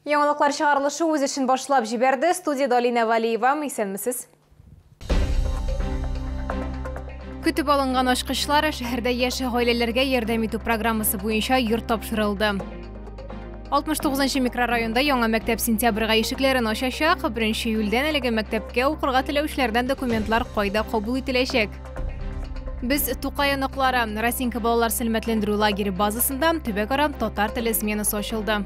Яңалыклар чыгарылышы үз эшен башлап җибәрде. Студиядә Алинә Валиева. Исәнмесез. Көтеп алынган ачкычлар шәһәрдә яшь гаиләләргә ярдәм итү программасы буенча йорт тапшырылды. 69 микрорайонда яңа мәктәп сентябрьгә ишекләрен ачачак. 1 июльдән әлеге мәктәпкә укырга теләүчеләрдән документлар кайда кабул ителәчәк? Без Тукай оныклары Расинка балалар сәламәтләндерү лагере базасында төбәкара татар теле сменасы ачылды.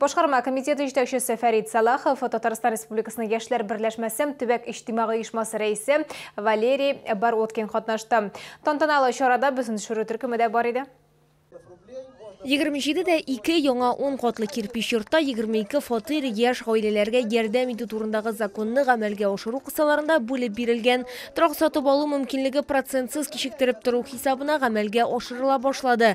Башкарма комитеты җитәкчесе Фәрит Сәлахов, Татарстан Республикасының яшьләр берләшмәсе төбәк иҗтимагый оешмасы рәисе Валерий Бородкин катнашты. Тантаналы чарада безнең төшерү төркеме дә бар иде. 27 дә ике яңа 10 катлы кирпич йортта 22 фатир яшь гаиләләргә ярдәм итү турындагы законны гамәлгә ашыру кысаларында бүлеп бирелгән. Торак сатып алу мөмкинлеге процентсыз кичектереп тору хисабына гамәлгә ашырыла башлады.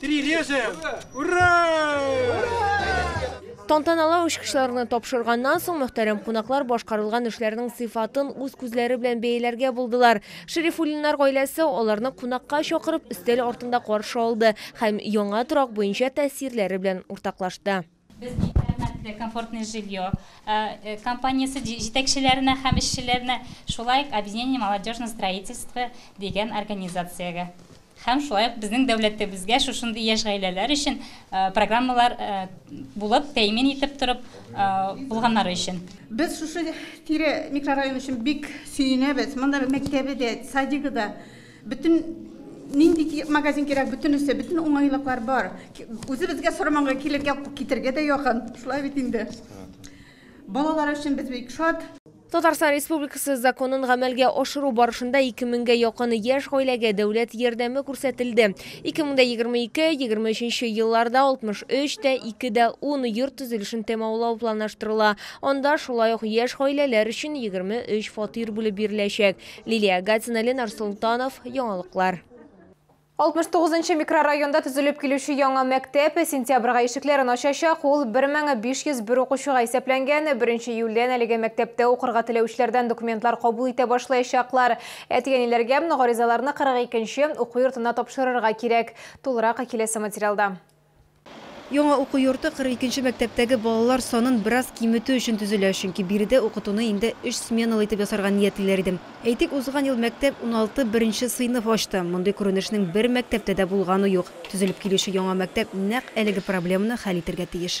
Три режем! Ура! Тантаналы очкычларны тапшырганнан соң мөхтәрәм кунаклар башкарылган эшләрнең сыйфатын үз күзләре белән бәяләргә булдылар. Шерифуллиннар гаиләсе аларны кунакка чакырып, өстәл артында каршы алды һәм яңа торак буенча тәэсирләре белән уртаклашты. Без бик рәхмәтле Комфортное жилье компаниясе җитәкчеләренә һәм эшчеләренә, шулай ук Объединение молодежного строительства дигән организациягә һәм шулай ук безнең дәүләтебезгә шушындый яшь гаиләләр өчен программалар булып тәэмин итеп торып булганнары өчен. Без шушы тирә микрорайон өчен бик сөенәбез. Монда мәктәбе дә, садигы да. Бөтен нинди ки- магазин кирәк, бөтенесе, бөтен уңайлыклар бар. Ки- Үзебезгә Сорманга килергә, китәргә дә якын. Шулай бит инде. Балалар өчен без бик шат. Татарстан Республикасы законын гамәлгә ашыру барышында ике меңгә якын яшь гаиләгә дәүләт ярдәме күрсәтелде. Ике мең дә егерме ике, егерме өченче елларда 63 тә ике дә ун йорт төзелешен тәмамлау планлаштырыла. Анда шулай ук яшь гаиләләр өчен егерме өч фатир бүлеп биреләчәк. Лилия Гатина, Ленар Солтанов, Яңалыклар. 69 нчы микрорайонда төзелеп килүче яңа мәктәп сентябрьгә ишекләрен ачачак. Ул 1501 укучыга исәпләнгән. 1 июльдән әлеге мәктәптә укырга теләүчеләрдән документлар кабул итә башлаячаклар. Әтигәниләргә гаризаларны 42 нче уку йортына тапшырырга кирәк. Тулырак киләсе материалда. Яңа уку йорты 42 нче мәктәптәге балалар санын бераз киметү өчен төзелә, чөнки биредә укытуны инде өч сменалы итеп ясарга ниятлиләр иде. Әйтик, узган ел мәктәп уналты беренче сыйныф ачты. Мондый күренешнең бер мәктәптә дә булганы юк. Төзелеп килүче яңа мәктәп нәкъ әлеге проблеманы хәл итәргә тиеш.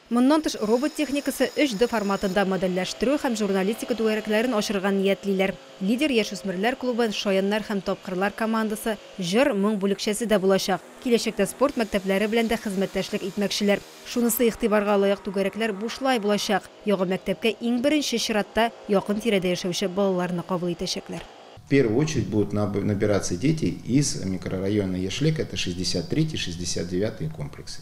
Моннан тыш, робот техникасы 3D форматында модельләштерү һәм журналистика түгәрәкләрен ачырга ниятлиләр. Лидер яшүсмерләр клубы, Шаяннар һәм тапкырлар командасы, Җыр, моң бүлекчәсе дә булачак. Киләчәктә спорт мәктәпләре белән дә хезмәттәшлек итмәкчеләр. Шунысы игътибарга лаек, түгәрәкләр бушлай булачак. Яңа мәктәпкә иң беренче чиратта якын тирәдә яшәүче балаларны кабул итәчәкләр. В первую очередь будут набираться дети из микрорайона Яшьлек, это шестьдесят третий, шестьдесят девятый комплексы.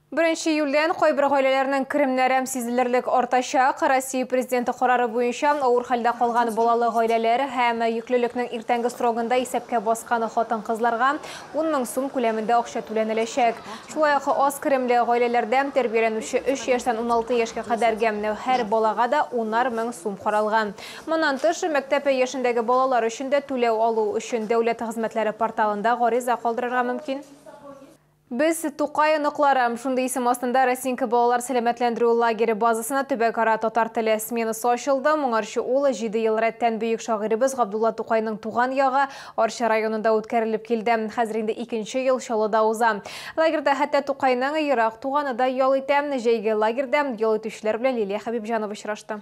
Беренче июльдән кайбер гаиләләрнең керемнәрем сизелерлек артачак. Россия Президенты карары буенча, авыр хәлдә калган балалы гаиләләр һәм йөклелекнең иртәнге срогында исәпкә баскан хатын-кызларга 10 мең сум күләмендә акча түләнеләчәк. Шулай ук аз керемле гаиләләрдә тәрбияләнүче 3 яшьтән 16 яшькә кадәрге һәр балага да унар мең сум каралган. Моннан тыш, мәктәп яшендәге балалар өчен дә түләү алу өчен Дәүләт хезмәтләре порталында гариза калдырырга мөмкин. Без, Тукай оныклары, шундый исем астында Росинка балалар сәламәтләндерү лагере базасына төбәкара татар теле сменасы ачылды. Моңарчы ул җиде ел рәттән бөек шагыйребез Габдулла Тукайның туган ягы, Арча районында үткәрелеп килде. Хәзер инде икенче ел Чаллыда уза. Лагерьда хәтта Тукайның ерак туганы да ял итә. Җәйге лагерьда ял итүчеләр белән Лилия Хәбибҗанова очрашты.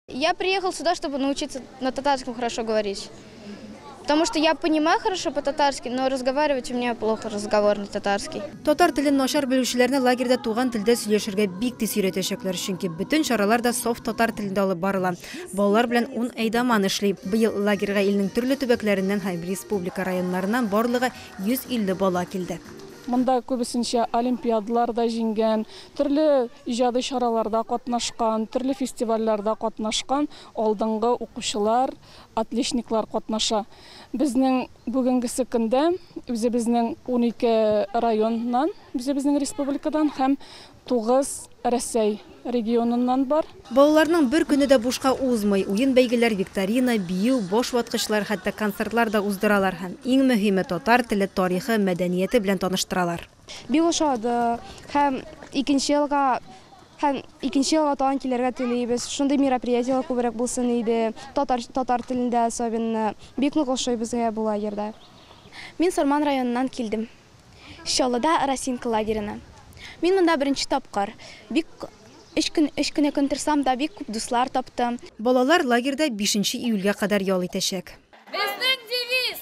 Я приехал сюда, чтобы научиться на татарском хорошо говорить. Потому что я понимаю хорошо по-татарски, но разговаривать у меня плохо разговор на татарский. Татар телен начар белүчеләрне лагерьда туган телдә сөйләшергә бик тиз өйрәтәчәкләр, чөнки бөтен чаралар да софт татар телендә алып барыла. Балалар белән ун әйдаман эшли. Быел лагерьга илнең төрле төбәкләреннән һәм республика районнарыннан барлыгы 150 бала килде. Монда күбесенчә олимпиадалар да җиңгән, Төрле иҗади чараларда катнашкан, төрле фестивальләрдә катнашкан алдынгы укучылар, отличниклар катнаша. Безнең бүгенгесе көндә үзебезнең унике районнан, үзебезнең республикадан һәм тугыз Рәсәй регионыннан бар. Балаларның бер көне дә бушка узмый, уен-бәйгеләр, викторина, бию, баш ваткычлар, хәтта концертлар да уздыралар һәм, иң мөһиме, татар теле, тарихы, мәдәнияте белән таныштыралар. Бик ошады һәм икенче елга һәм икенче елга тагын килергә телибез. Шундый мероприятиеләр күбрәк булсын иде. Татар татар телендә особенно. Бик нык ошый безгә бу лагерьда. Мин Сарман районыннан килдем. Чаллыда Росинка лагерена. Мин монда беренче тапкыр. Бик өч көн өч кенә көн торсам да, бик күп дуслар таптым. Балалар лагерьда бишенче июльгә кадәр ял итәчәк. Безнең девиз,